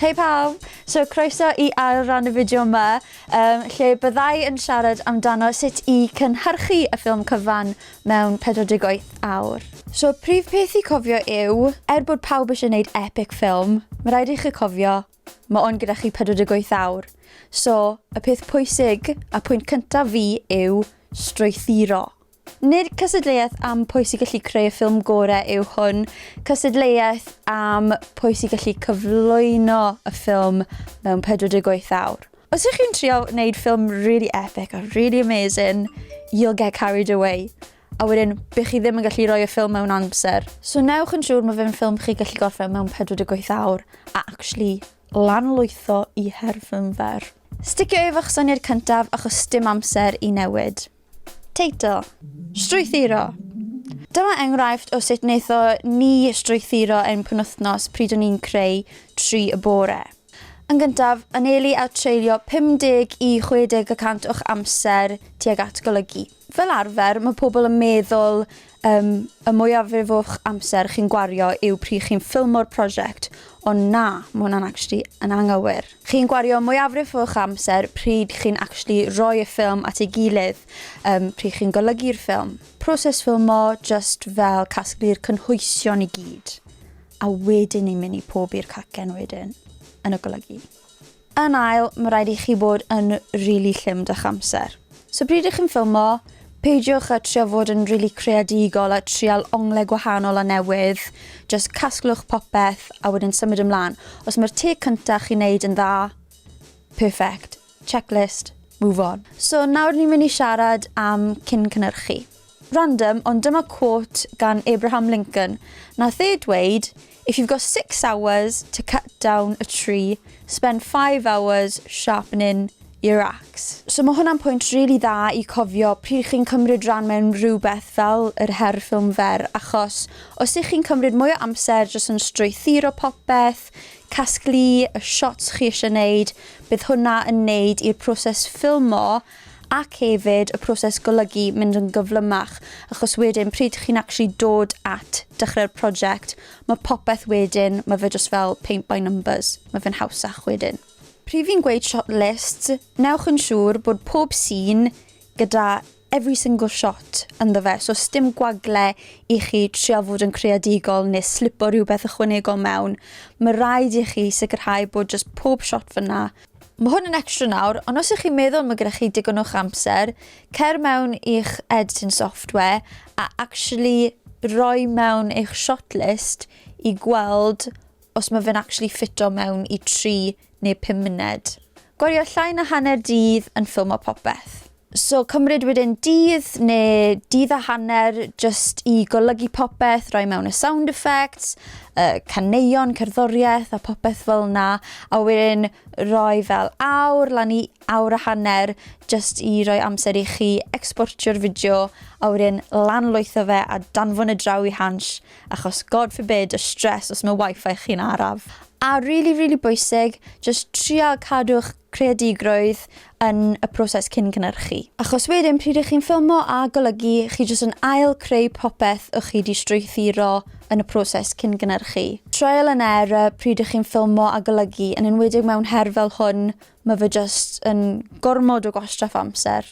Hei pawb! So croeso i ail ran y fideo yma, um, lle byddai yn siarad amdano sut i cynhyrchu y ffilm cyfan mewn 48 awr. So prif peth i cofio yw, er bod pawb eisiau gwneud epic ffilm, mae rhaid i chi cofio, mae o'n gyda chi 48 awr. So y peth pwysig a pwynt cyntaf fi yw strwythuro. Nid cystadleuaeth am pwy sy'n gallu creu y ffilm gorau yw hwn, cystadleuaeth am pwy sy'n gallu cyflwyno y ffilm mewn 48 awr. Os ych chi'n trio wneud ffilm really epic a really amazing, you'll get carried away, a wedyn bych chi ddim yn gallu rhoi y ffilm mewn amser. So newch yn siŵr mae fe'n ffilm chi gallu gorffen mewn 48 awr a actually lanlwytho i her ffilm fer. Sticio efo'ch syniad cyntaf achos sdim amser i newid. Teitl, Strwythuro! Dyma enghraifft o sut wnaetho ni strwythuro ein penwythnos pryd o'n i'n creu tri y bore. Yn gyntaf, anelu a treulio 50 i 60 y cant o'ch amser tuag at golygu. Fel arfer, mae pobl yn meddwl Yym, y mwyafrif o'ch amser chi'n gwario yw pryd chi'n ffilmo'r prosiect, ond na, ma' hwnna'n actually yn anghywir. Chi'n gwario mwyafrif o'ch amser pryd chi'n actually rhoi y ffilm at ei gilydd, yym, pryd chi'n golygu'r ffilm. Proses ffilmo jyst fel casglu'r cynhwysion i gyd, a wedyn ni'n mynd i pob i'r cacen wedyn, yn y golygu. Yn ail, mae rhaid i chi fod yn rili llym 'dych amser. So pryd ych chi'n ffilmo, peidiwch â trio fod yn rili creadigol a trial onglau gwahanol a newydd, jyst casglwch popeth a wedyn symud ymlaen. Os mae'r take cyntaf chi'n neud yn dda, perfect, checklist, move on. So nawr ni'n mynd i siarad am cyn-cynhyrchu. Random ond dyma quote gan Abraham Lincoln, nath e dweud If you've got six hours to cut down a tree, spend five hours sharpening your axe. So ma' hwnna'n pwynt rili dda i cofio pryd chi'n cymryd ran mewn rhywbeth fel yr her ffilm fer achos os y'ch chi'n cymryd mwy o amser jyst yn strwythuro popeth, casglu y shots chi isie neud, bydd hwnna yn neud i'r proses ffilmo ac hefyd y proses golygu mynd yn gyflymach achos wedyn pryd chi'n actually dod at dechrau'r project mae popeth wedyn mae fe just fel paint by numbers mae fe'n hawsach wedyn. Pryd fi'n gweud shot list, newch yn siŵr bod pob sîn gyda every single shot ynddo fe so sdim gwagle i chi trial fod yn creadigol neu slipo rhywbeth ychwanegol mewn, mae rhaid i chi sicrhau bod just pob shot fyna Mae hwn yn extra nawr, ond os ych chi'n meddwl mae gyda chi digon o'ch amser, cer mewn i'ch editing software a actually roi mewn eich shortlist i gweld os mae fe'n actually ffito mewn i 3 neu 5 munud. Gwario llai na hanner dydd yn ffilmo popeth. So cymryd wedyn dydd neu dydd a hanner jyst i golygu popeth, rhoi mewn y sound effects, y caneuon, cerddoriaeth a popeth fel yna, a wedyn rhoi fel awr lan i awr a hanner jyst i roi amser i chi ecsportio'r fideo a wedyn lanlwytho fe a danfon y draw i Hansh achos god forbid y stress os mae wifi chi'n araf. A rili rili bwysig, jyst trial cadw'ch creadigrwydd yn y proses cyn cynhyrchu. Achos wedyn pryd ych chi'n ffilmo a golygu, chi jyst yn ail creu popeth o'ch chi 'di strwythuro yn y proses cyn gynhyrchu. Trial and error pryd ych chi'n ffilmo a golygu, yn enwedig mewn her fel hwn, ma' fe jyst yn gormod o gwastraff o amser.